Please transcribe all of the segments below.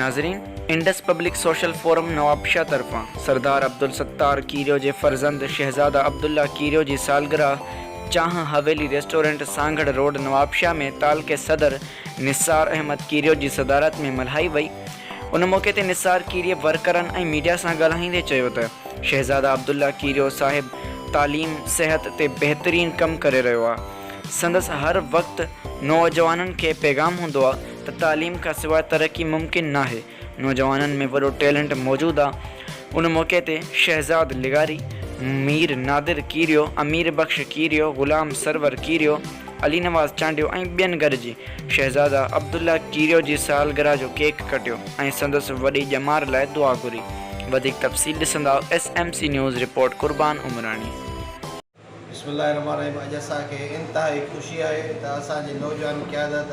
ناظرين! Indus public social forum Nawabshah طرفان سردار عبدالستار کيريو جي فرزند شهزاده عبدالله کيريو جي سالگرهه چانهه حويلي ريسٽورنٽ سانگهڙ روڊ نوابشاهه ۾ تعلقي صدر نثار احمد کيريو جي صدارت ۾ ملهائي وئي ان موقعي تي نثار کيريي ورڪرن ۽ ميڊيا سان ڳالهائيندي چيو ته شهزاده عبدالله کيريو صاحب تعليم صحت تي بهترين ڪم ڪري رهيو آ سندس هر وقت نوجوانن کي پيغام هوندو آ ته تعليم کان سواء ترقي ممڪن ناهي، نوجوانن ۾ وڏو ٽيلنٽ موجود آ. ان موقعي تي شهزاد لغاري، مير نادر کيريو، امير بخش کيريو، غلام سرور کيريو، علي نواز چانڊيو ۽ ٻين گڏجي شهزاده عبدالله کيريو جي سالگرهه جو ڪيڪ ڪٽيو ۽ سندس وڏي ڄمار لاء دعا گهري. وڌيڪ تفصيل ڏسنداء S M C news report Qurban Umrani. بسم الله الرحمٰن الرحيم اڄ اسان کي انتهائي خوشي آهي ته اسان جي نوجوان قيادت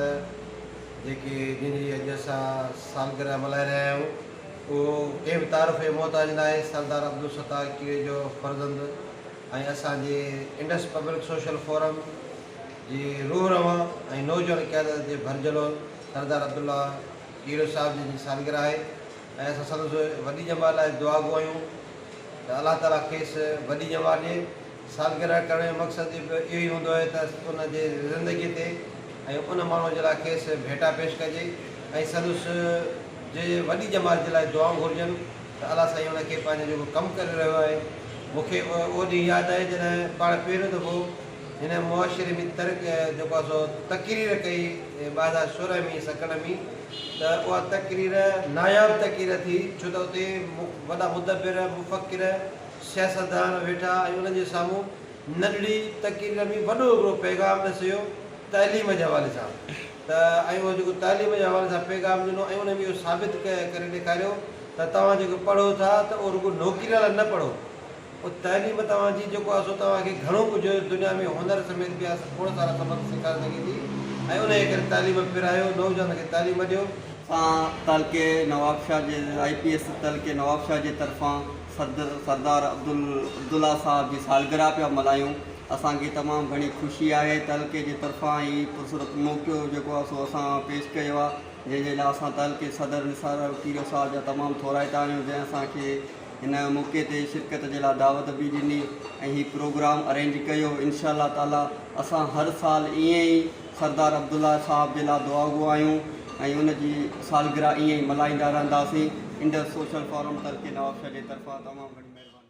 جيڪي جن جي اڄ اسان سالگرهه ملهائي رهيا آهيون اهو ڪنهن به تعارف جي محتاج ناهي سردار عبدالستار ڪيڙي جو فرزند ۽ اسان جي انڊس پبلڪ سوشل فورم جي روح روان ۽ نوجوان قيادت جي ڀرجهلول سردار عبدالله ڪيڙي صاحب جن جي سالگرهه آهي ۽ اسان سندس وڏي ڄمار لاء دعاگو آهيون. ته الله تعاليٰ کيس وڏي ڄمار ڏئي. سالگرهه ڪرڻ جو مقصد به اهو ئي هوندو آهي ته ان جي زندگيء تي ۽ ان ماڻهوء جي لاء کيس ڀيٽا پيش ڪجي ۽ سندس جي وڏي ڄمار جي لاء دعائون گهرجن ته الله سائين ان کي پنهنجو جيڪو ڪم ڪري رهيو آهي مون کي اهو ڏينهن ياد آهي جڏهن پاڻ پهريون دفعو هن معاشري ۾ ترڪ جيڪو آهي سو تقرير ڪئي ٻه هزار سورهن ۾ سڪنڊ ۾ ته اها تقرير ناياب تقرير ٿي ڇو ته اتي وڏا مدبر، مفڪر، سياستدان ويٺا ۽ انهن جي سامهون ننڍڙي تقرير ۾ وڏو هڪڙو پيغام پيش ڪيو تعليم جي حوالي سان ته ۽ اهو جيڪو تعليم جي حوالي سان پيغام ڏنو ۽ انهن اهو ثابت ڪري ڏيکاريو ته توهان جيڪو پڙهو ٿا ته اهو رڳو نوڪري لاء نه پڙهو پوء تعليم توهان جي جيڪو آهي سو توهان کي گهڻو ڪجهه دنيا ۾ هنر سميت ٻيا کوڙ سارا سبق سيکاري سگهي ٿي ۽ انهيء ڪري تعليم پرايو، نوجوانن کي تعليم ڏيو. سان تعلقي نوابشاهه جي آئي پي ايس تعلقي نوابشاهه جي طرفان صدر سردار عبدالله صاحب جي سالگرهه پيا ملهايون اسان کي تمام گهڻي خوشي آهي تعلقي جي طرفان هي پرسرت موقعو جيڪو آهي سو اسان پيش ڪيو آهي جنهن جي لاء اسان تعلقي صدر نثار الفقيرصاحب جا تمام ٿورائتا آهيون جنهن اسان کي هن موقعي تي شرڪت جي لاء دعوت به ڏني ۽ هي پروگرام ارينج ڪيو انشاء الله تعالي اسان هر سال ائين ئي سردار عبدالله صاحب جي لاء دعاگو آهيون ۽ ان جي سالگره ائين ئي ملهائيندا رهنداسين انڊس سوشل فورم تلڪي نوابشاهه جي طرفان تمام گهڻي مهرباني.